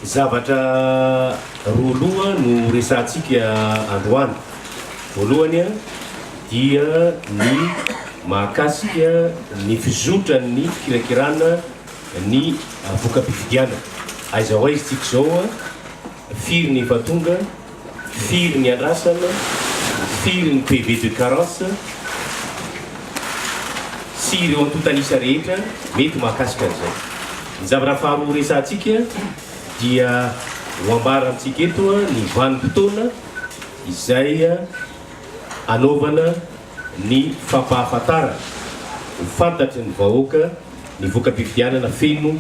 Zavatra roa loha no resahantsika androany. Voalohany dia ny mahakasika ny fizotran'ny fikirakirana ny voka-pifidianana. Aiza ho aiza isika izao? Firy ny efa tonga? Firy ny andrasana, firy ny PV de carence sy ireo antotan'isa rehetra mety mahakasika an'izay. Ny zavatra faharoa horesahantsika dia ho ambara amintsika eto ny vanim-potoana izay hanaovana ny fampahafantarana ho fantatry ny vahoaka ny voka-pifidianana feno.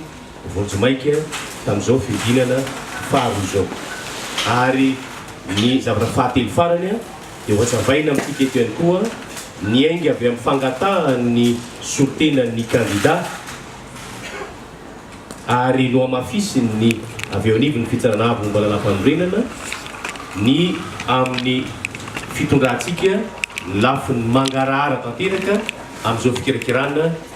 vonjimaika tamin'izao fihodinana faharoa izao. Ary ny zavatra fahatelo farany dia hohazavaina amintsika eto ihany koa ny ainga avy amin'ny fangatahan'ny solontenan'ny kandida ary nohamafisiny avy eo anivon'ny Fitsarana Avo momba Lalàmpanorenana ny amin'ny fitondrantsika ny lafiny mangarahara tanteraka amin'izao fikirakirana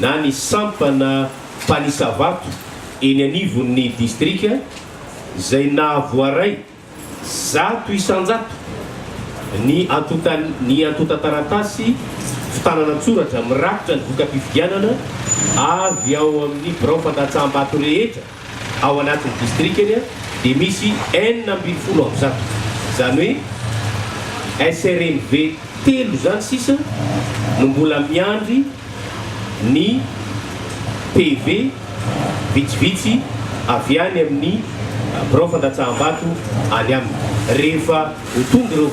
na ny sampana fanisa vato eny anivon'ny distrika izay nahavoaray zato isan-jato ny antontan'ny antontan-taratasy fitanana an-tsoratra mirakitra ny voka-pifidianana avy ao amin'ny birao fandatsaham-bato rehetra Ao anatin'ny distrikany dia misy enina ambin'ny folo amby zato, izany hoe SRMV telo izany sisa no mbola miandry ny PV vitsivitsy avy any amin'ny birao fandatsaham-bato any aminy. Rehefa ho tonga ireo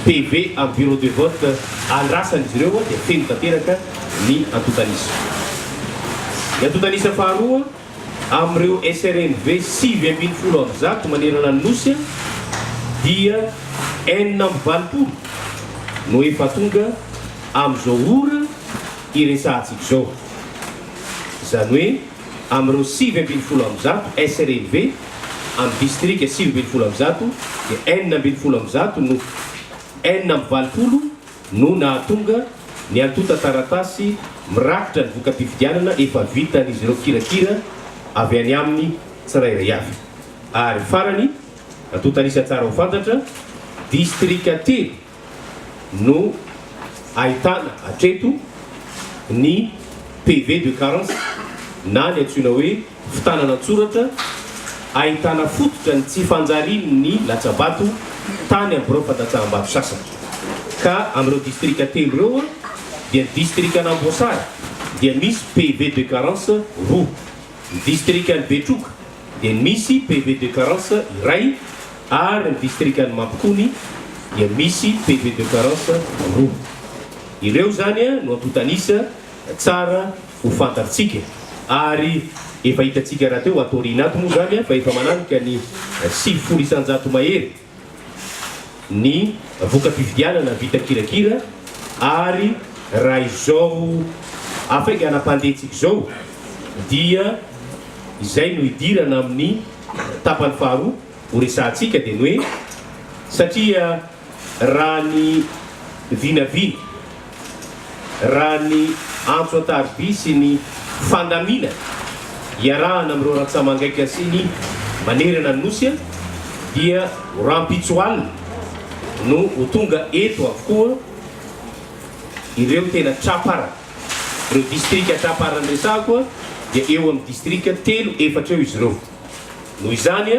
PV amin'ny bureau de vote andrasan'izy ireo dia feno tanteraka ny antontanisa. Ny antontanisa faharoa, amin'ireo SRNV sivy ambin'ny folo amby zato manerana ny Nosy, dia enina amby valopolo no efa tonga amin'izao ora iresahantsika izao. Izany hoe, amin'ireo sivy ambin'ny folo amby zato SRNV amin'ny distrika sivy ambin'ny folo amby zato, dia enina ambin'ny folo amby zato no enina amby valopolo no nahatonga ny antontan-taratasy mirakitra ny voka-pifidianana efa vitan'izy ireo kirakira avy any aminy tsirairay avy. Ary farany, antontan'isa tsara ho fantatra, distrika telo no ahitana hatreto ny PV de carence na ny antsoina hoe, Fitànana an-tsoratra ahitana fototra ny tsy fanjarian'ny latsa-bato tany amin'ireo fandatsaham-bato sasany. Ka amin'ireo distrika telo ireo dia ny distrikan'Amboasary dia misy PV de carence roa, ny distrikan'i Betroka dia misy PV de carence iray ary ny distrikan'i Mampikony dia misy PV de carence roa. Ireo izany no antontan'isa tsara ho fantatrtsika ary efa hitantsika rahateo ato aoriana ato moa izany fa efa mananika ny sivifolo isanjato mahery ny voka-pifidianana vita kirakira ary raha izao hafainganam-pandehantsika izao dia izay no hidirana amin'ny tapany faharoa horesahantsika dia ny hoe satria Raha ny vinavina, raha ny antso an-tariby sy ny fandaminana iarahana amin'ireo rantsamangaika sy ny manerana ny Nosy dia ho rahampitso alina no ho tonga eto avokoa ireo tena tra-para. Ireo distrika tra-para niresahako dia eo amin'ny distrika telo efatra eo izy ireo. Noho izany,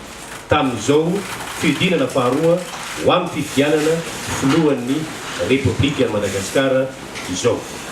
tamin'izao fihodinana faharoa ho amin'ny fifidianana filohan'ny Repoblikan'i Madagasikara izao.